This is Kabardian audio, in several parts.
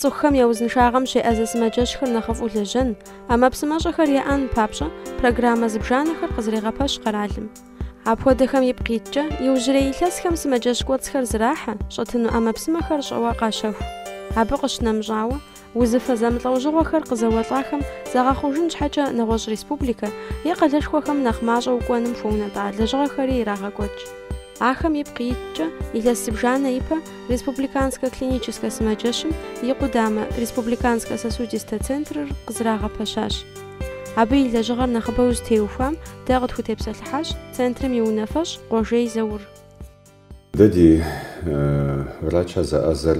Цӏыхухэм я узыншагъэм щеӏэзэ сымаджэщхэр нэхъыфӏу лэжьэн, ӏэмэпсымэщӏэхэр яӏэн папщӏэ программэ зыбжанэхэр къызэрегъэпэщ къэралым. Апхуэдэхэм ипкъ иткӏэ, иужьрей илъэсхэм сымаджэщ кӏуэцӏхэр зэрахьэ, щӏэтыну ӏэмэпсымэхэр щӏэуэ къащэху. Абы къыщынэмыщӏауэ, узыфэ зэмылӏэужьыгъуэхэр къызэуэлӏахэм загъэхъужын щхьэкӏэ нэгъуэщӏ республикэ е къалэшхуэхэм нэхъ мащӏэу кӏуэным хуэунэтӏа лэжьыгъэхэри ирагъэкӏуэкӏ. Ахэм ипкъ иткӏэ илъэс зыбжанэ ипэ Республиканскэ клиническэ сымаджэщым и къудамэ Республиканскэ сосудистэ центрыр къызэрагъэпэщащ. Абы и лэжьыгъэр нэхъыбэу зытеухуам дэ къытхутепсэлъыхьащ центрым и унафэщӏ Къуэжей Заур. Дэ ди врачыр зэӏэзэр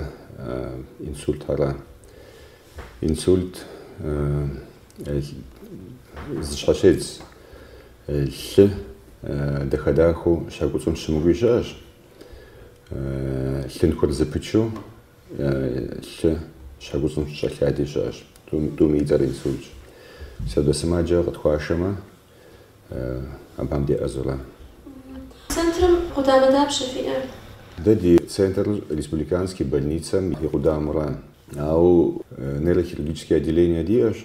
инсультхэра. Инсульт зыщхьэщедз Лъы дахэ-дахэу щхьэ куцӏым щымыкӏуи щыӏэщ. Лъынтхуэр зэпычу лъы щхьэ куцӏым щӏэлъади щыӏэщ. Тӏум и цӏэр инсультщ. Апхуэдэ сымаджэ къытхуашэмэ, абыхэм деӏэзэу ара. Центрым къудамэ дапщэ фиӏэр? Дэ ди центрыр республиканский больницэм и къудамэу ара. Ауэ нейрохирургическое отделение диӏэщ.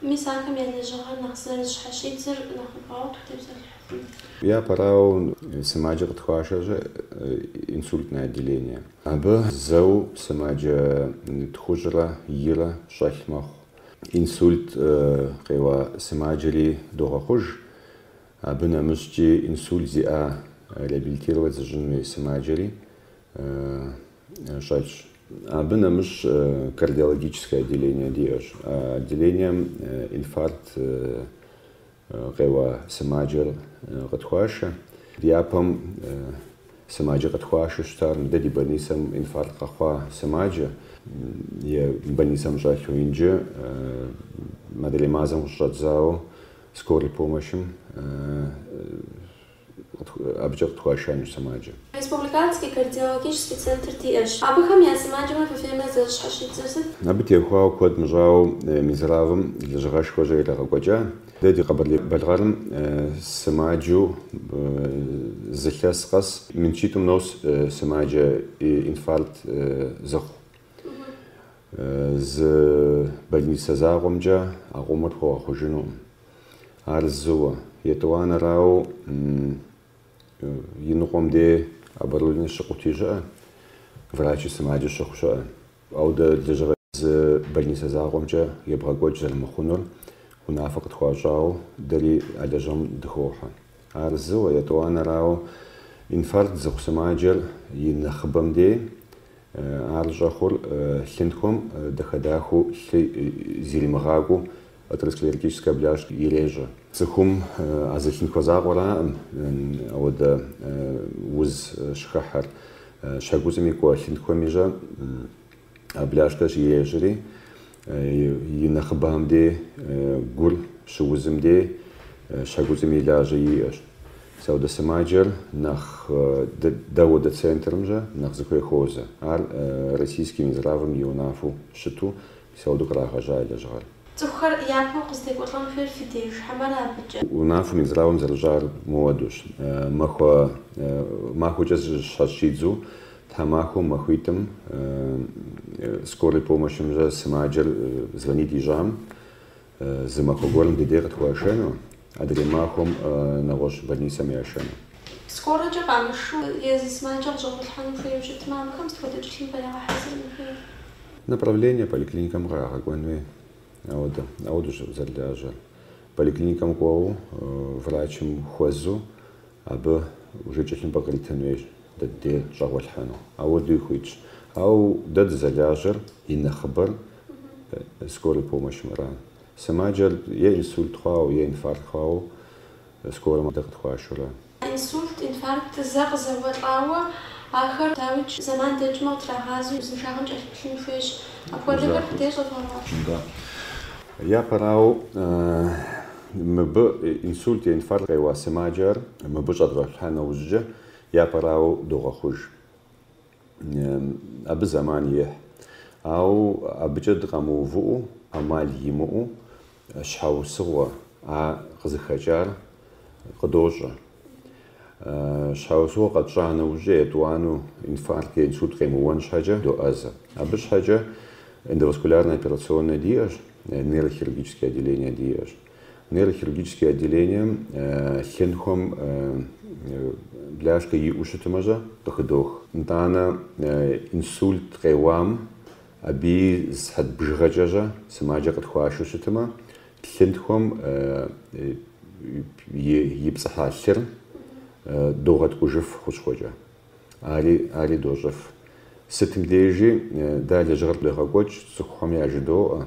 Мис ахэм я лэжьыгъэр нэхъ зэрызыщхьэщидзыр нэхъыбэу къытхутепсэлъыхьын? Япэрауэ, сымаджэ къытхуашэщӏэ инсультное отделение. Абы зэу сымаджэ тхущӏрэ ирэ щӏэлъ мэхъу. Инсульт къеуа сымаджэри догъэхъуж. Абы нэмыщӏкӏи инсульт зиӏа реабилитировать зыщӏын хуей сымаджэри щӏэлъщ. Абы нэмыщӏ кардиологическое отделение диӏэщ. А отделением инфаркт къеуа сымаджэр къытхуашэ. Япэм сымаджэ къытхуашэу щытар мыдэ ди больницэм инфаркт къэхъуа сымаджэ е больницэм щӏэлъу. Инджы мыдрей мазэм къыщыщӏэдзауэ скорый помощым абыкӏэ къытхуашэнущ сымаджэ. Республиканский кардиологический центр диӏэщ. Абыхэм я сымаджэмрэ фыфеймрэ зэрызыщхьэщидзыр сыт? Абы теухуауэ куэд мыщӏауэ Минздравым лэжьыгъэшхуэ щрагъэкӏуэкӏа. Дэ ди Къэбэрдей-Балъкъэрым сымаджэу зы илъэс къэс мин щитӏым нос сымаджэ инфаркт зыхъу. Зы больницэ закъуэмкӏэ а къомыр хуэгъэхъужынукъым. Ар зыуэ. Етӏуанэрауэ иныкъуэм де оборудование щыкъути щыӏэ, врачи сымаджэ щыхъу щыӏэ. Ауэдэ лэжьыгъэ зы больницэ закъуэмкӏэ ебгъэкӏуэкӏ зэрымыхъунур унафэ къытхуащӏауэ дэри а лэжьыгъэм дыхохьэ. Ар зыуэ. Етӏуанэрауэ инфаркт зыхъу сымаджэр и нэхъыбэм де ар щӏэхъур лъынтхуэм дахэ-дахэу лъы зэримыгъакӏуэу Атеросклеротическая бляшка ирещӏэ. Цӏыхум а зы лъынтхуэ закъуэракъым ауэдэ уз щыхыхьэр. Щхьэкуцӏыми кӏуэ лъынтхуэми щэ а бляшкэр ирещӏри, и нэхъыбэм дей гур щыузым дей щхьэкуцӏыми лажьэ иӏэщ. Ис ауэдэ сымаджэр нэхъ дэ ауэдэ центрым щэ нэхъ зыхуей хуозэ. Ар Российский Минздравым и унафэу щыту Ис ауэду кърагъэжьа и лэжьыгъэр. Цӏыхухэр япэу къыздекӏуэлӏэн хуейр фи деж, хьэмэрэ абыкӏэ? Унафэ Минздравым зэрыщӏар мыуэдущ. Махуэ махуэкӏэ зыщхьэщидзу тхьэмахуэм махуитӏым скорой помощым щэ сымаджэр звонит ищӏам, Зы махуэ гуэрым ди дей къытхуашэну, адрей махуэм нэгъуэщӏ больницэм яшэну. Скорэкӏэ къамышу езы сымаджэ къыщӏэгъуэлъхьэну хуейуэ щытмэ, абыхэм сыт хуэдэ тхылъымпӏэ ягъэхьэзырын хуейр? Направление поликлиникэм къагъэкӏуэн хуей, ауэ дэ, ауэдущ зэрылажьэр. Поликлиникэм кӏуэуэ врачым хуэзу абы уже тхылъымпӏэ къритын хуейщ дэ ди дей щӏэгъуэлъхьэну. Ауэдэуи хуитщ. Ауэ дэ дызэлажьэр и нэхъыбэр. скорый помощымра. Сымаджэр е инсульт хъуауэ, е инфаркт хъуауэ скорым дэ къытхуашэура. Инсульт, инфаркт зэ къызэуэлӏауэ ахэр, дауикӏ, зэман дэкӏмэ къытрагъазэу узыншагъэм кӏэлъыплъын хуейщ. Апхуэдэхэр фи дей щӏэвгъэгъуащ. Да. Япэрауэ, мыбы инсульт е инфаркт къеуа сымаджэр мыбы щӏэдгъэхьа нэужькӏэ япэрауэ догъэхъуж. Абы зэман ехь. Ауэ абыкӏэ дыкъэмыувыӏэу, ӏэмал имыӏэу щхьэусыгъуэ а къызыхэкӏар къыдощӏэ. Щхьэусыгъуэ къэтщӏа нэужькӏэ етӏуанэу инфаркт е инсульт къемыуэн щхьэкӏэ доӏэзэ. Абы щхьэкӏэ эндоваскулярнэ операционнэ диӏэщ, нейрохирургически отделение диӏэщ. Нейрохирургический отделением лъынтхуэм бляшкэ иӏэу щытымэ щэ къыхыдох. Итӏанэ инсульт къеуам абыи сыхьэт бжыгъэкӏэ щэ сымаджэ къытхуашэу щытымэ, лъынтхуэм ипцӏыхьа лъыр догъэткӏужыф хущхъуэкӏэ. Ари, ари дощӏыф. Сытым дежи дэ а лэжьыгъэр идогъэкӏуэкӏ, цӏыхухэм яжыдоӏэ,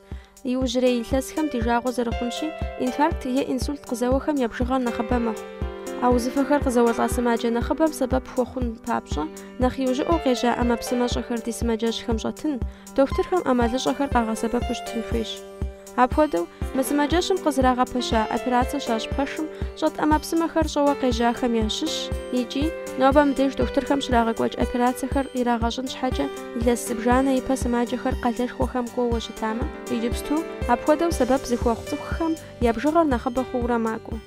Иужьрей илъэсхэм ди жагъуэ зэрыхъунщи, инфаркт е инсульт къызэуэхэм я бжыгъэр нэхъыбэ мэхъу. А узыфэхэр къызэуэлӏа сымаджэ нэхъыбэм сэбэп хуэхъун папщӏэ, нэхъ иужьыӏэу къежьа ӏэмэпсымэщӏэхэр ди сымаджэщхэм щӏэтын, дохутырхэм ӏэмалыщӏэхэр къагъэсэбэпу щытын хуейщ. Апхуэдэу, мы сымаджэщым къызэрагъэпэща операцэ щащӏ пэшым щӏэт ӏэмэпсымэхэр щӏэуэ къежьахэм ящыщщ икӏи, нобэ мыбдеж дохутырхэм щрагъэкӏуэкӏ операцэхэр ирагъэщӏын щхьэкӏэ, Илъэс зыбжанэ ипэ сымаджэхэр къалэшхуэхэм кӏуэуэ щытамэ, иджыпсту апхуэдэу сэбэп зыхуэхъу цӏыхухэм я бжыгъэр нэхъыбэ хъуурэ макӏуэ.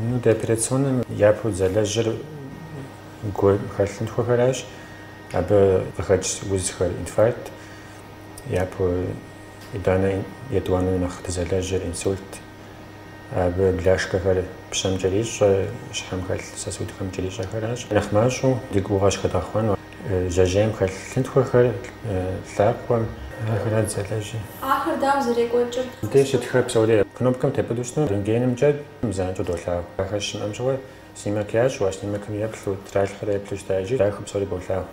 Ну, ди операционнэм япэу дызэлэжьыр гум хэлъ лъынтхуэхэращ, абы къыхэкӏ узхэр, инфаркт, япэу итӏанэ етӏуанэу нэхъ дызэлэжьыр, инсульт, абы бляшкэхэр пщэм кӏэрищӏэ, щхьэм хэлъ сосудхэм кӏэрищӏэхэращ. Нэхъ мащӏэу ди гугъэ щхыдгъэхъуэну. Жьэжьейм хэлъ лъынтхуэхэр лъакъуэм ахэра дызэлэжьыр. Ахэр дауэ зэрекӏуэкӏыр? Мыбдеж щытхэр псори кнопкэм тепӏытӏэу щыту рентгенымкӏэ занщӏэу долъагъу. Ахэр щымыӏэм щыгъуэ снимок ящӏу, а снимокым еплъу, тралъхьэрэ еплъу щыта, иджы ахэр псори болъагъу.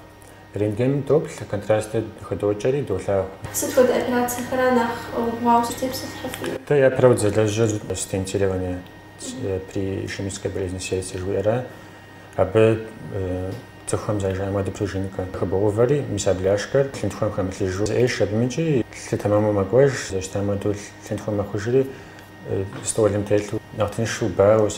Рентгеным доплъ, контрастыр хыдокӏэри долъагъу. Сыт хуэдэ операцэхэра нэхъ убгъуауэ узытепсэлъыхьыфынур? Дэ япэрауэ дызэлэжьыр стентирование при ишемической болезни сердца жыхуиӏэра. Абы цӏыхухэм зэрыжаӏэм хуэдэу пружинкэ хыбогъэувэри, мис а бляшкэр лъынтхуэм хэмылъыжу зэӏещ абымкӏи, лъы тэмэму мэкӏуэж, зэрыщытам хуэдэу лъынтхуэр мэхъужри, столым телъу нэхъ тыншу, бауэу,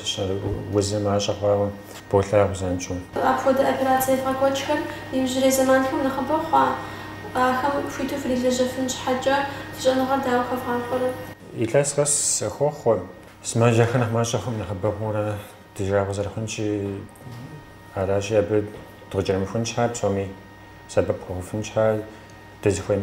узыр мащӏэ хъуауэ болъагъу занщӏэу. Апхуэдэ операцэ евгъэкӏуэкӏхэр иужьрей зэманхэм нэхъыбэ хъуа? Ахэм хуиту фрилэжьэфын щхьэкӏэ фи щӏэныгъэр дауэ хэвгъахъуэрэ? Илъэс къэсыху хохъуэ. Сымаджэхэр нэхъ мащӏэ хъуркъым, нэхъыбэ хъуурэ, Ди жагъуэ зэрыхъунщи, аращи, абы дыкъыкӏэрымыхун щхьа, псоми сэбэп дыхуэхъуфын щхьа, дызыхуей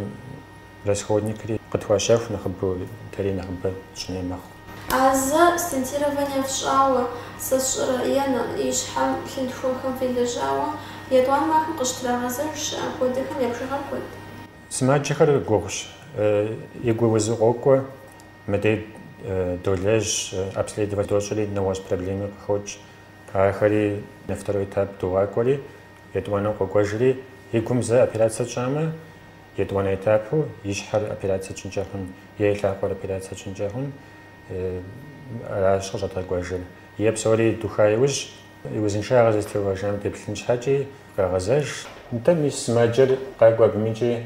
расходникри къытхуащэху нэхъыбэу, дэри нэхъыбэ тщӏын хуей мэхъу. А зэ стентирование фщӏауэ сэ сщӏэрэ е и щхьэм лъынтхуэхэм фелэжьауэ етӏуанэу ахэм къыщытрагъэзэж щыӏэ апхуэдэхэм я бжыгъэр куэд? Сымаджэхэр гугъущ, и гур узу къокӏуэ. Мыдей долэжь, обследовать дощӏри, нэгъуэщӏ проблеми къыхокӏ. Ахэри на второй этап догъакӏуэри, етӏуанэу къокӏуэжри, и гум зэ операцэ тщӏамэ, етӏуанэ этапу и щхьэр операцэ тщӏынкӏэ хъун, е и лъакъуэр операцэ тщӏынкӏэ хъун, аращ къыщӏэдгъэкӏуэжыр. Е псори духа иужь, и узыншагъэр зэрызэтеувэжам деплъын щхьэкӏи къагъэзэж. Нтӏэ, мис сымаджэр къакӏуэ абымкӏи.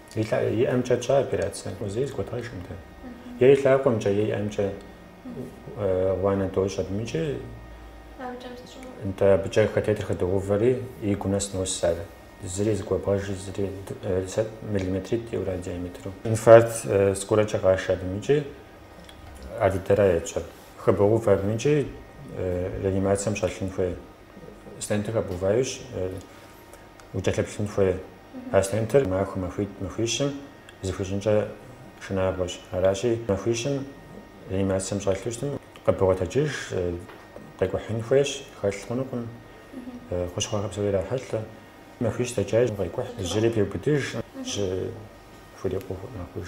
И ӏэмкӏэ тщӏа операцэ? Зэи зэгуэдгъэжӏым дэ. Е и лъакъуэмкӏэ, е и ӏэмкӏэ гъуанэ дощӏ абым икӏи. Нтӏэ абыкӏэ катетер хыдогъэувэри игу нэс нос ар. Зыри зэгуэбгъэжи, зыри миллиметритӏ иӏэурэ диаметру. Инфаркт скорэкӏэ къашэ абым икӏи ар дыдэра етщӏэр. Хыбогъэувэ абым икӏи реанимацием щӏэлъын хуей. Стентыр хэбгъэуващ, укӏэлъыплъын хуей. А стентыр махуэ махуитӏ-махуищым зэхуищӏынкӏэ шынагъуэщ. Аращи, махуищым реанимацием щӏэлъу щытым, къыбогъэтэджыж, къекӏухьын хуейщ, хэлъ хъунукъым, хущхъуэхэр псори ирахьэлӏэ. Махуищ дэкӏащ, къекӏухь, жьыри пеубыдыж, жьы хурикъуу мэхъуж.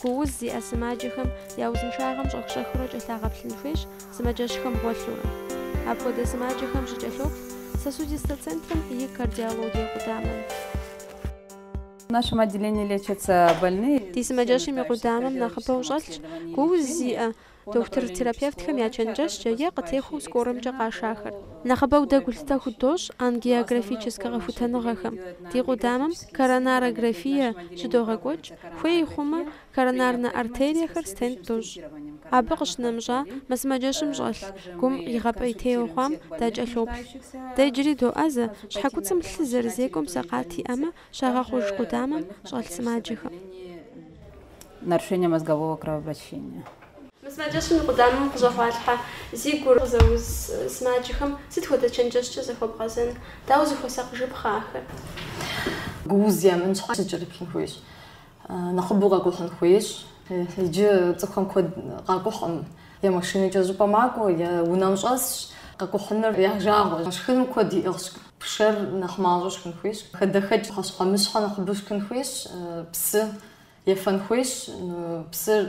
Гу уз зиӏэ сымаджэхэм я узыншагъэм щӏэх-щӏэхыурэ кӏэлъагъэплъын хуейщ сымаджэщхэм гъуэлъыурэ. Апхуэдэ сымаджэхэм щыкӏэлъоплъ Сосудистэ центрым и кардиологие къудамэм. В нашем отделении лечатся больные. Ди сымаджэщым и къудамэм нэхъыбэу щӏэлъщ гу уз зиӏэ Дохутыр-терапевтхэм я чэнджэщкӏэ е къытехуэу скорэмкӏэ къашахэр. Нэхъыбэу дэ гулъытэ худощӏ ангиографическэ къэхутэныгъэхэм. Ди къудамэм коронарографие щыдогъэкӏуэкӏ, хуей хъумэ, коронарнэ артериехэр стент дощӏ. Абы къыщынэмыщӏа, мы сымаджэщым щӏэлъ гум игъэпӏейтейуэ хъуам дакӏэлъоплъ. Дэ иджыри доӏэзэ, щхьэкуцӏым лъы зэрызекӏуэм сэкъат иӏэмэ, щагъэхъуж къудамэм щӏэлъ сымаджэхэм. Нарушение мозгового кровообращения. Мы сымаджэщым и къудамэм къыщӏэгъуалъхьэ зи гур къызэуз сымаджэхэм сыт хуэдэ чэнджэщкӏэ захуэбгъэзэн? Дауэ зыхуэсакъыжыпхъэ ахэр? Гууз емынщ, щыкӏэрыплъын хуейщ. Нэхъыбэу къэкӏухьын хуейщ. Иджы цӏыхухэм куэд къакӏухьӏым. Е машинэкӏэ зыщӏыпӏэ макӏуэ, е унэм щӏэсщ. Къэкӏухьыныр я жагъуэщ. Шхыным куэд иӏыгъщ. Пшэр нэхъ мащӏэу шхын хуейщ. Хадэхэкӏ пхъэщхьэмыщхьэ нэхъыбэу шхын хуейщ. Псы ефэн хуейщ. Псыр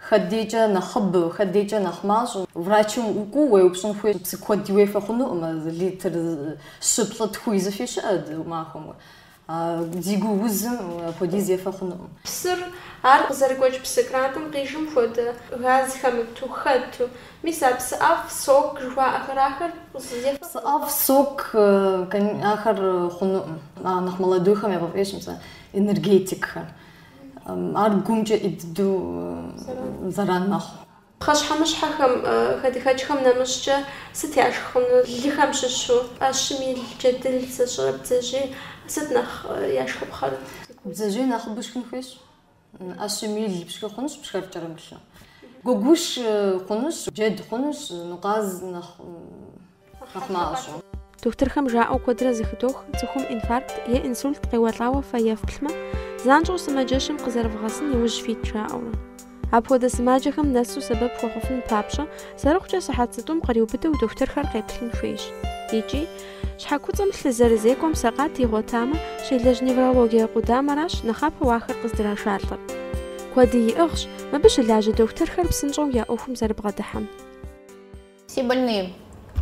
хэт дейкӏэ нэхъыбэу, хэт дейкӏэ нэхъ мащӏэу. Врачым укӏуу уеупщӏын хуейщ. Псы куэд уефэ хъунукъым. Литр щы-плӏы-тху изыфи щыӏэу махуэм. Ди гу узым апхуэдиз ефэ хъунукъым. Псыр, ар къызэрыгуэкӏ псы крантым къижым хуэдэ, газ хэмыту, хэту. Мис а псыӏэфӏ, сок жыхуаӏэхэр, ахэр ефэ. Псыӏэфӏ, сок, ахэр хъунукъым. А нэхъ молодойхэм яфӏэфӏщ мис а энергетикхэр. Ар гумкӏэ ӏей дыдэу зэран мэхъу. Пхъэщхьэмыщхьэхэм, хадэхэкӏхэм нэмыщӏкӏэ, сыт яшх хъуну? Лыхэм щыщу, ӏэщым ил джэдыл зэщӏырэ бдзэжьей сыт нэхъ яшхыпхъэр? Бдзэжьей нэхъыбэу шхын хуейщ. ӏэщым ил пшхы хъунущ пшэр кӏэрымылъу. Гуэгуш хъунущ, джэд хъунущ, ну къаз нэхъ. къэхъумащӏэу. Дохутырхэм жаӏэу куэдрэ зыхыдох, цӏыхум инфаркт е инсульт къеуэлӏауэ фэ ефплъмэ, занщӏэу сымаджэщым къызэрывгъэсын и ужь фит жаӏэурэ. Апхуэдэ сымаджэхэм нэсу сэбэп хуэхъуфын папщӏэ, зэрыхъукӏэ сыхьэт зытӏум къриубыдэу дохутырхэр къеплъын хуейщ. Икӏи, щхьэ куцӏым лъы зэрызекӏуэм сэкъат игъуэтамэ, щелэжь неврологие къудамэращ нэхъапэу ахэр къыздрашалӏэр. Куэди иӏыгъщ мыбы щылажьэ дохутырхэр псынщӏэу я ӏуэхум зэрыбгъэдыхьэм. Все больные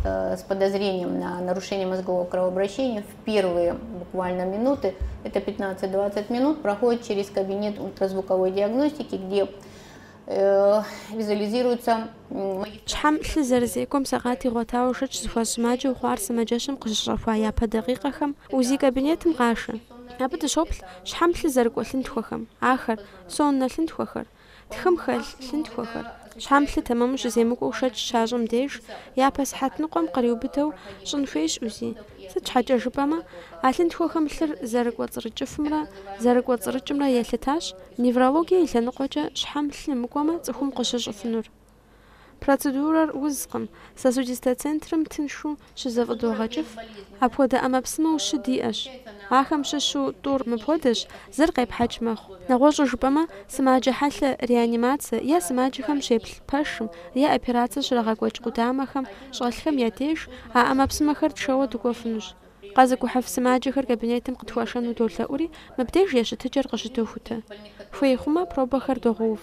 э, с подозрением на нарушение мозгового кровообращения в первые буквально минуты, это 15-20 минут, проходят через кабинет ультразвуковой диагностики, где э, визуализируется Щхьэм лъы зэрызекӏуэм сэкъат игъуэтауэ шэч зыхуащӏ сымаджэу хъуар сымаджэщым къыщыщӏэхуа япэ дакъикъэхэм УЗИ кабинетым къашэ. Абы дыщоплъ щхьэм лъы зэрыкӏуэ лъынтхуэхэм, ахэр, соннэ лъынтхуэхэр, Тхым хэлъ лъынтхуэхэр. Щхьэм лъы тэмэму щыземыкӏуэу шэч щащӏым деж, япэ сыхьэт ныкъуэм къриубыдэу щӏын хуейщ УЗИ. Сыт щхьэкӏэ жыпӏэмэ, а лъынтхуэхэм лъыр зэрыкӏуэцӏрыкӏыфымрэ зэрыкӏуэцӏрыкӏымрэ елъытащ, неврологие и лъэныкъуэкӏэ щхьэм лъы мыкӏуэмэ цӏыхум къыщыщӏыфынур. Процедурэр узкъым. Сосудистэ центрым тыншу щызэфӏыдогъэкӏыф, апхуэдэ ӏэмэпсымэу щы диӏэщ. Ахэм щыщу тӏур мыпхуэдэщ, зыр къепхьэкӏ мэхъу. Нэгъуэщӏу жыпӏэмэ, сымаджэ хьэлъэ реанимацэ е сымаджэхэм щеплъ пэшым, е операцэ щрагъэкӏуэкӏ къудамэхэм щӏэлъхэм я деж а ӏэмэпсымэхэр тшэуэ дыкӏуэфынущ. Къэзыкӏухьыф сымаджэхэр кабинетым къытхуашэну долъэӏури, мыбдеж я щытыкӏэр къыщыдохутэ. Хуей хъумэ, пробэхэр догъэув.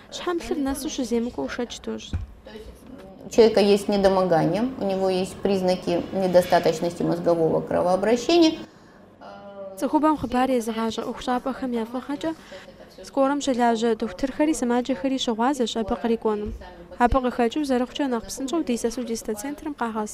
Щхьэм лъыр нэсу щыземыкӏуэу шэч дощӏ. У человека есть недомогание, у него есть признаки недостаточности мозгового кровообращения. Цӏыхубэм хъыбар езыгъащӏэ ӏуэхущӏапӏэхэм я фӏыгъэкӏэ скорэм щылажьэ дохутырхэри сымаджэхэри щыгъуазэщ абы кърикӏуэнум. Абы къыхэкӏыу зэрыхъукӏэ нэхъ псынщӏэу ди сосудистэ центрым къагъэс.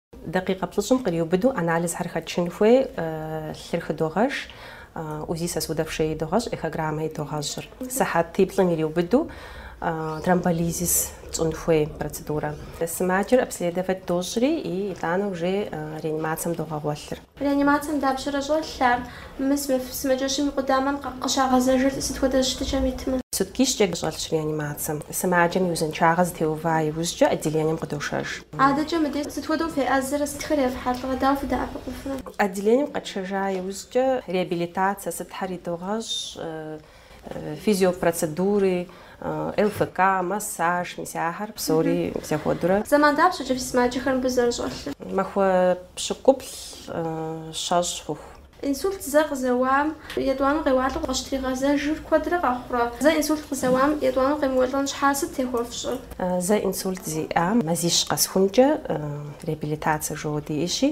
Дакъикъэ плӏыщӏым къриубыдэу анализхэр хэтшын хуей лъыр хыдогъэш, УЗИ сосудов шеи идогъэщӏ, эхограммэ идогъэщӏыр. Сыхьэтиплӏым ириубыдэу тромболизис тщӏын хуей процедурэ. Сымаджэр обследовать дощӏри и итӏанэ уже реанимацэм догъэгъуэлъыр. Реанимацием дапщэрэ щӏэлъар? Мы сымаджэщым и къудамэм къыщагъэзэжыр сыт хуэдэ щытыкӏэм итмэ? Суткищкӏэ щӏэлъщ реанимацием? Сымаджэм и узыншагъэ зытеува иужькӏэ отделением къыдошэж. Адэкӏэ мыдей сыт хуэдэу феӏэзэрэ, сытхэр ефхьэлӏэрэ, дауэ фыдэӏэпыкъуфрэ? Отделением къэтшэжа иужькӏэ реабилитацэ сытхэр идогъэщӏ, физиопроцедури, ЛФК, массаж, мис ахэр псори зэхуэдурэ. Зэман дапщэкӏэ фи сымаджэхэр мыбы зэрыщӏэлъыр? Махуэ пщыкӏуплӏ щэщӏ хъуху. Инсульт зэ къызэуам етӏуанэу къеуалӏэу къыщытригъэзэжыр куэдрэ къэхъурэ? Зэ инсульт къызэуам етӏуанэу къемыуэлӏэн щхьа сыт техуэфщӏыр? Зэ инсульт зиӏам мазищ къэсхункӏэ реабилитацэ жо диӏэщи,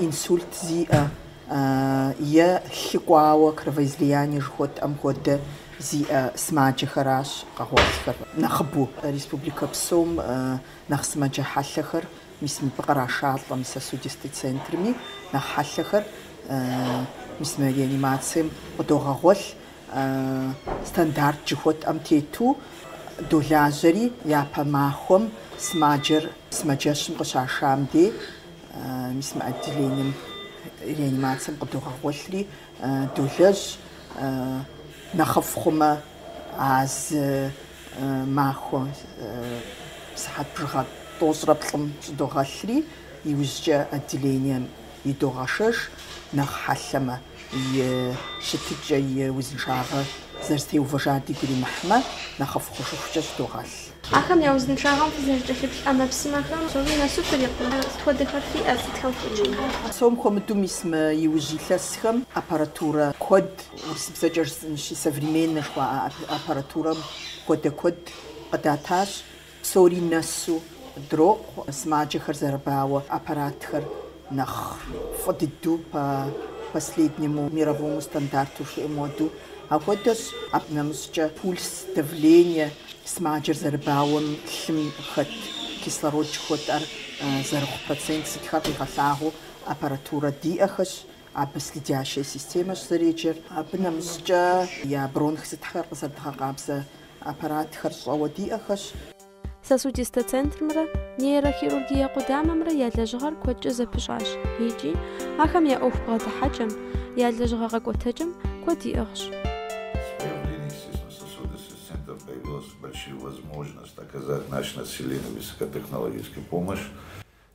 инсульт зиӏэ е лъы кӏуауэ, кровоизлияние жыхуэтӏэм хуэдэ, зиӏэ сымаджэхэращ къэгъуэлъхэр нэхъыбэу. Республикэ псом нэхъ сымаджэ хьэлъэхэр, мис мыбы кърашалӏэ мы сосудистэ центрми нэхъ хьэлъэхэр, мис мы реанимацием къыдогъэгъуэлъ стандарт жыхуэтӏэм тету долажьэри, япэ махуэм сымаджэр сымаджэщым къыщашам дей. Мис мы отделением, реанимацием къыдогъэгъуэлъри, долэжь, нэхъыфӏ хъумэ, а зы махуэ сыхьэт бжыгъэ тӏощӏрэ плӏым щӏыдогъэлъри, иужькӏэ отделением идогъэшэж, нэхъ хьэлъэмэ. и щытыкӏэ, и узыншагъэ зэрызэтеувэжар дигу иримыхьмэ, нэхъыфӏ хъужыхукӏэ щӏыдогъэлъ. Ахэм я узыншагъэм фызэрыкӏэлъыплъ ӏэмэпсымэхэм псори нэсу фрикъу. Сыт хуэдэхэр фиӏэ, сытхэм фхуэчэмхэр? Псом хуэмыдэу мис мы иужь илъэсхэм аппаратурэ куэд, урысыбзэкӏэ жысӏэнщи, современнэ жыхуаӏэ аппаратурэм хуэдэ куэд къыдатащ. Псори нэсу дрокъу сымаджэхэр зэрыбауэ аппаратхэр нэхъ фӏы дыдэу по последнему мировому стандарту жыхуиӏэм хуэдэу. Ахуэдэщ абы нэмыщӏкӏэ пульс, давление сымаджэр зэрыбауэм лъым хэт кислород жыхуэтӏэр зэрыхъу процент сытхэр къигъэлъагъуу аппаратурэ диӏэхэщ, абы следящая системэщ зэреджэр. Абы нэмыщӏкӏэ я бронх сытхэр къызэрыдгъэкъабзэ Аппаратхэр щӏэуэ диӏэхэщ. Сосудистэ центрымрэ нейрохирургие къудамэмрэ я лэжьыгъэр куэдкӏэ зэпыщӏащ икӏи ахэм я ӏуэху бгъэдыхьэкӏэм, я лэжьыгъэ къэкӏуэтэкӏэм куэд иӏыгъщ.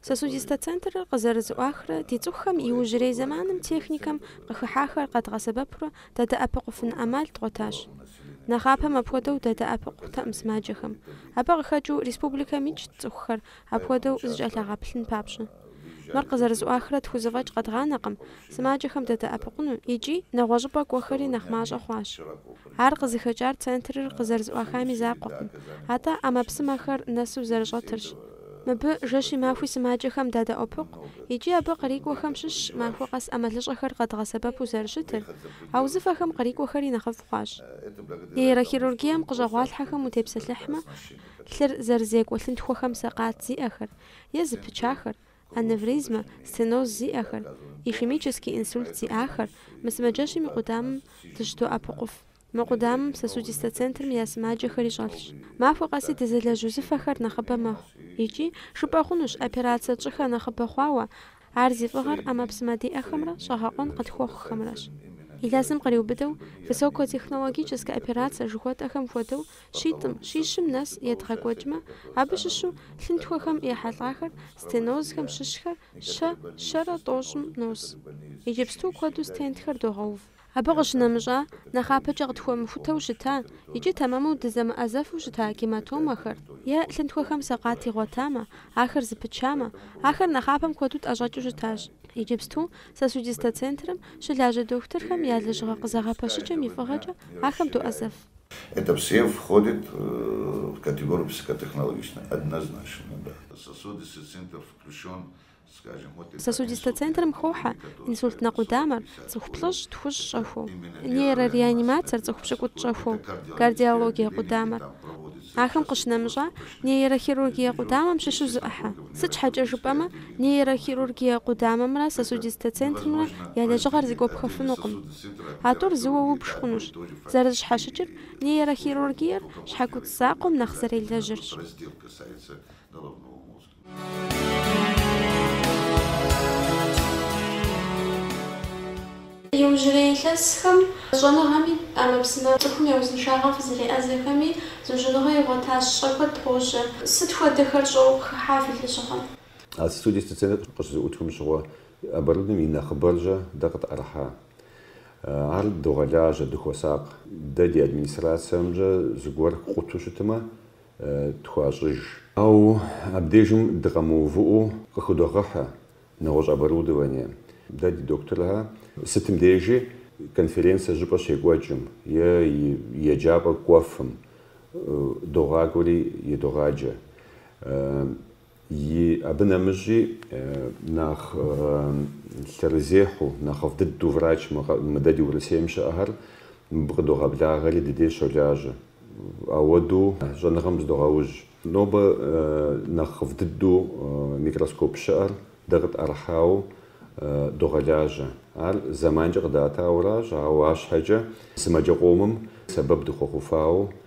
Сосудистэ центрыр къызэрызыӏуахрэ ди цӏыхухэм иужьрей зэманым техникэм къыхыхьахэр къэдгъэсэбэпурэ дадэӏэпыкъуфын ӏэмал дгъуэтащ. Нэхъапэм апхуэдэу дадэӏэпыкъутэкъым сымаджэхэм. Абы къыхэкӏыу республикэм икӏт цӏыхухэр апхуэдэу зыкӏэлъагъэплъын папщӏэ. Мыр къызэрызыӏуахрэ тхузэфӏэкӏ къэдгъанэкъым сымаджэхэм дадэӏэпыкъуну икӏи нэгъуэщӏыпӏэ кӏуэхэри нэхъ мащӏэ хъуащ. Ар къызыхэкӏар центрыр къызэрызыӏуахами закъуэкъым, атӏэ ӏэмэпсымэхэр нэсу зэрыщӏэтырщ. Мыбы жэщи махуи сымаджэхэм дадэӏуэпыкъу икӏи абы кърикӏуэхэм щыщщ махуэ къэс ӏэмалыщӏэхэр къэдгъэсэбэпу зэрыщытыр, а узыфэхэм кърикӏуэхэри нэхъыфӏ хъуащ. Нейрохирургием къыщӏэгъуалъхьэхэм утепсэлъыхьмэ, лъыр зэрызекӏуэ лъынтхуэхэм сакъат зиӏэхэр, е зыпычахэр, аневризмэ, стеноз зиӏэхэр, ишемический инсульт зиӏахэр, мы сымаджэщым и къудамэм дыщыдоӏэпыкъуф. Мы къудамэм сосудистэ центрым я сымаджэхэри щӏэлъщ. Махуэ къэси дызэлэжь узыфэхэр нэхъыбэ мэхъу. Икӏи, жыпӏэ хъунущ, операцэ тщӏыхэр нэхъыбэ хъуауэ, ар зи фӏыгъэр ӏэмэпсымэ диӏэхэмрэ щӏэгъэкъуэн къытхуэхъухэмрэщ. Илъэсым къриубыдэу, высокотехнологическэ операцэ жыхуэтӏэхэм хуэдэу, щитӏым, щищым нэс едгъэкӏуэкӏмэ, абы щыщу лъынтхуэхэм ехьэлӏахэр, стенозхэм щыщхэр щэ-щэрэ тӏощӏым нос. Иджыпсту куэду стентхэр догъэув. Абы къыщынэмыщӏа, нэхъапэкӏэ къытхуэмыхутэу щыта икӏи тэмэму дызэмыӏэзэфу щыта гематомэхэр е лъынтхуэхэм сакъат игъуэтамэ, ахэр зыпычамэ, ахэр нэхъапэм куэду тӏэщӏэкӏыу щытащ. Иджыпсту сосудистэ центрым щылажьэ дохутырхэм я лэжьыгъэ къызэгъэпэщыкӏэм и фӏыгъэкӏэ ахэм доӏэзэф. Это все входит в категорию высокотехнологичные, однозначно, да. Сосудистый центр включен Сосудистэ центрым хохьэ инсультнэ къудамэр, цӏыху плӏыщӏ, тхущӏ щӏэхуэу, нейрореанимацэр, цӏыху пщыкӏутӏ щӏэхуэу, кардиологие къудамэр. Ахэм къыщынэмыщӏа, нейрохирургие къудамэм щыщу зы ӏыхьэ. Сыт щхьэкӏэ жыпӏэмэ, нейрохирургие къудамэмрэ сосудистэ центрымрэ я лэжьыгъэр зыгуэпхэфынукъым. А тӏур зыуэ убж хъунущ. Зэрызыщхьэщыкӏыр, нейрохирургиер щхьэкуцӏ закъуэм нэхъ зэрелэжьырщ. Иужьрей илъэсхэм щӏэныгъэми ӏэмэпсымэ цӏыхум я узыншагъэм фызэреӏэзэхэми зыужьыныгъэ игъуэтащ, щӏэ куэд къожьэ. Сыт хуэдэхэр щӏэуэ къыхыхьа фи лэжьыгъэм? А сосудистэ центр къыщызэӏутхым щыгъуэ оборудованием и нэхъыбэркӏэ дэ къытӏэрыхьа. Ар догъэлажьэ, дыхуэсакъ. Дэ ди администрацэмкӏэ зыгуэр къуту щытмэ, тхуащӏыж. Ауэ абдежым дыкъэмыувыӏэу къыхыдогъэхьэ нэгъуэщӏ оборудование. Дэ ди докторхэр сытым дежи конференцэ щӏыпӏэ щекӏуэкӏым е еджапӏэ кӏуэфым догъакӏуэри едогъаджэ. Ии, абы нэмыщӏи нэхъ лъэрызехьу, нэхъыфӏ дыдэу врач мы дэ ди Урысейм щыӏэхэр мыбы къыдогъэблагъэри ди деж щолажьэ. Ауэдэу щӏэныгъэм зыдогъэужь. Нобэ нэхъыфӏ дыдэу микроскоп щыӏэр дэ къытӏэрыхьауэ догъэлажьэ. Ар зэманкӏэ къыдатауэращ, ауэ арщхьэкӏэ сымаджэ къомым сэбэп дыхуэхъуфауэ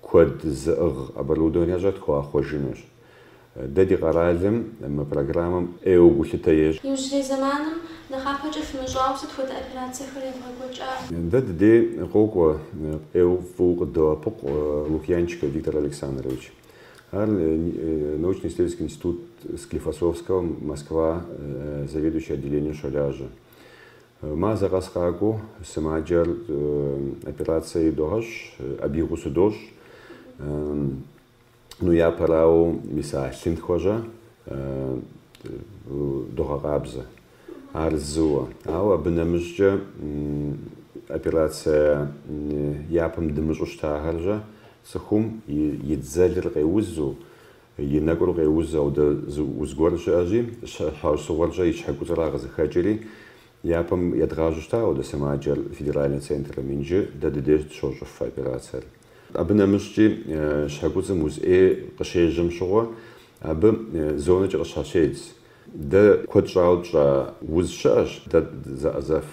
Куэд зыӏыгъ оборудованэщӏэ тхуахъуэжынущ. Дэ ди къэралым мы программэм ӏейуэ гулъытэ ещӏ. Иужьрей зэманым нэхъапэкӏэ фымыщӏауэ сыт хуэдэ операцэхэр евгъэкӏуэкӏа? Дэ дыдей къокӏуэ ӏейуэ фӏыуэ къыддоӏэпыкъу Лукьянчиков Виктор Александрович. Ар научно-исследовательский институт Склифосовского Москва заведующий отделением щолажьэ. Мазэ къэс къакӏуэу сымаджэр операцэ идогъэщӏ, абы и гъусэу дощӏ. Ну япэрауэ мис а лъынтхуэжьэ догъэкъабзэ. Ар зыуэ. Ауэ абы нэмыщӏкӏэ операцэ япэм дымыщӏу щытахэржьэ цӏыхум и дзэлыр къеузу, И нэкӏур къеузу, ауэдэ зы уз гуэр щыӏэщи, щхьэусыгъуэркӏэ и щхьэкуцӏра къызыхэкӏри, япэм едгъажьэу щыта ауэдэ сымаджэр федеральнэ центрым. Инджы дэ ды деж дыщощӏыф операцэр. Абы нэмыщӏкӏи щхьэкуцӏым уз ӏей къыщежьэм щыгъуэ, абы зонэкӏэ къыщхьэщедз. Дэ куэд щӏауэ тщӏа уз щыӏэщ, дэ зэӏэзэф.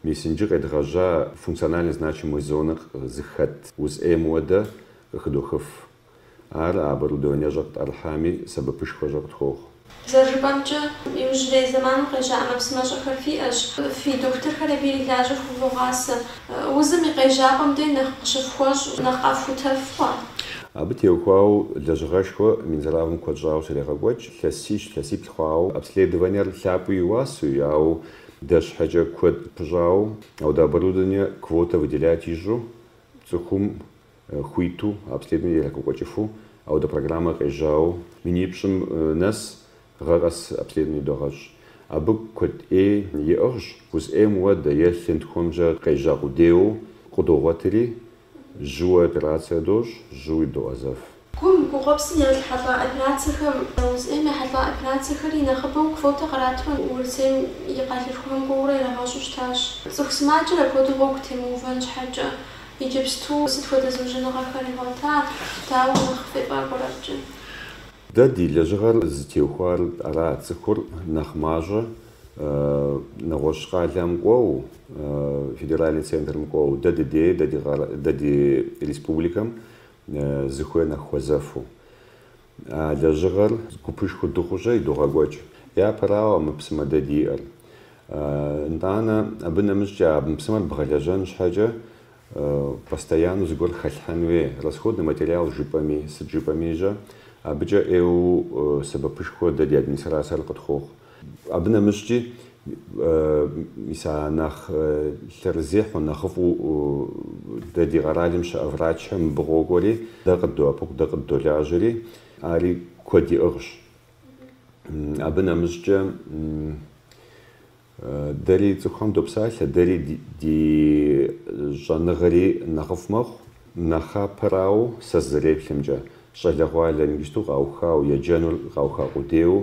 Мис инджы къедгъэжьа функционально значимой зонэ зыхэт уз ӏейм ауэдэ къыхыдохыф. Ар а оборудованиещӏэр къытӏэрыхьами сэбэпышхуэ щӏэ къытхуохъу. Зэрыжыпӏэмкӏэ, иужьрей зэманым къежьа ӏэмэпсымэщӏэхэр фиӏэщ, фи дохутырхэр абы ирилажьэ хувогъасэ. Узым и къежьапӏэм дей нэхъ къыщыфхуэщӏ, нэхъ къэфхутэф хъуа? Абы теухуауэ лэжьыгъэшхуэ Минздравым куэд щӏауэ щрегъэкӏуэкӏ, лъэсищ, лъэсиплӏ хъуауэ, обследованиер лъапӏэу и уасэу, ауэ дэ щхьэкӏэ куэд пыщӏауэ, ауэдэ оборудование квотэ выделять ищӏу цӏыхум хуиту, обследование ирагъэкӏуэкӏыфу, ауэдэ программэ къежьауэ минипщӏым нэс гъэ къэс обследование догъэщӏ. Абы куэд ӏей иӏыгъщ, уз ӏейм ауэдэ е лъынтхуэмкӏэ къежьа къудейуэ къыдогъуэтри, жьыуэ операцие дощӏ, жьыуи доӏэзэф. Гум, гугъуэпсым яхьэлӏа операцэхэм, уз ӏейм яхьэлӏа операцэхэри нэхъыбэу квотэ къратурэ Урысейм и къалэшхухэм кӏуэурэ ирагъэщӏу щытащ. Цӏыху сымаджэр апхуэдэу гъуэгу темыувэн щхьэкӏэ, иджыпсту сыт хуэдэ зыужьыныгъэхэр игъуэта, дауэ нэхъ фефӏакӏуэрэ абыкӏэ? Дэ ди лэжьыгъэр зытеухуар ара, цӏыхур нэхъ мащӏэу нэгъуэщӏ къалэм кӏуэу, федеральный центрым кӏуэу, дэ дыдей, дэ ди республикэм Зыхуей нэхъ хуэзэфу. А лэжьыгъэр гупышхуэ дыхъу щӏэ идогъэкӏуэкӏ. Япэрауэ, ӏэмэпсымэ дэ диӏэр. Нтӏанэ, абы нэмыщӏкӏэ ӏэмэпсымэр бгъэлэжьэн щхьэкӏэ, постоянэу зыгуэр хэлъхьэн хуей. Расходный материал жыпӏэми, сыт жыпӏэми жьэ, абыкӏэ ӏейуэ сэбэпышхуэ дэ ди администрацэр къытхуохъу. Абы нэмыщӏкӏи, мис а нэхъ лъэрызехьэу, нэхъыфӏу дэ ди къэралым щыӏэ врачхэр мыбы къокӏуэри, дэ къыддоӏэпыкъу, дэ къыддолажьэри, ари куэд иӏыгъщ. Абы нэмыщӏкӏэ, дэри цӏыхухэм допсалъэ, дэри ди щӏэныгъэри нэхъыфӏ мэхъу. Нэхъапэрауэ, сэ сызэреплъымкӏэ, щӏалэгъуалэр иджыпсту къауха, еджэныр къауха къудейуэ,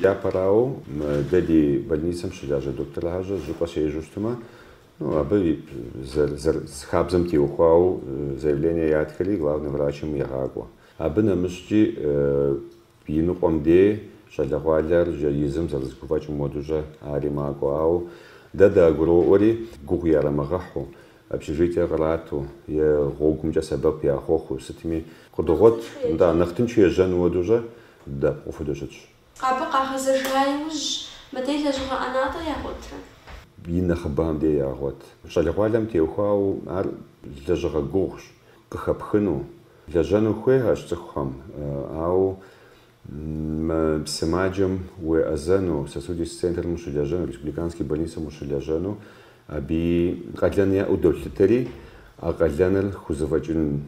Япэрауэ, дэ ди больницэм щылажьэ докторхэр щӏыпӏэ щежьэу щытмэ, ну, абы хабзэм теухуауэ заявление ятхэри главный врачым егъакӏуэ. Абы нэмыщӏкӏи и ныкъуэм дей щӏалэгъуалэр езым зэрыхузэфӏэкӏым хуэдэу-щэ ари макӏуэ. Ауэ дэ дагуроӏуэжри, гугъу ярамыгъэхьу, общежитие кърату е гъуэгумкӏэ сэбэп яхуэхъуу сытми къыдогъуэт дэ, нэхъ тыншу ежьэну хуэдэу-щэ Дэ къытфӏыду щытщ. Абы къагъэзэжа иужь, мыдей лэжьыгъэ ӏэнатӏэ ягъуэтрэ? И нэхъыбэхэм дей ягъуэт. Щӏалэгъуалэм теухуауэ ар лэжьыгъэ гугъущ, къыхэпхыну, лэжьэну хуейращ цӏыхухэм, ауэ мы сымаджэм уеӏэзэну, сосудистый центрым ущылэжьэну, республиканский больницэм ущылэжьэну абыи къалэн яӏэу долъытэри, а къалэныр хузэфӏэкӏын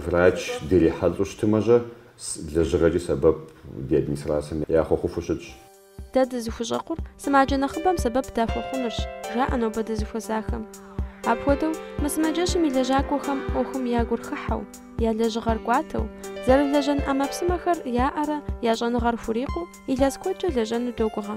Врач дирихьэлӏэу щытмэ-щэ, лэжьыгъэкӏи сэбэп ди администрацэм яхуэхъуфу щытщ. Дэ дызыхущӏэкъур сымаджэ нэхъыбэм сэбэп дахуэхъунырщ, жаӏэ нобэ дызыхуэзахэм. Апхуэдэу, мы сымаджэщым и лэжьакӏуэхэм ӏуэхум я гур хыхьэу, я лэжьыгъэр кӏуатэу, зэрылэжьэн ӏэмэпсымэхэр яӏэрэ я щӏэныгъэр хурикъуу, илъэс куэдкӏэ лэжьэну догугъэ.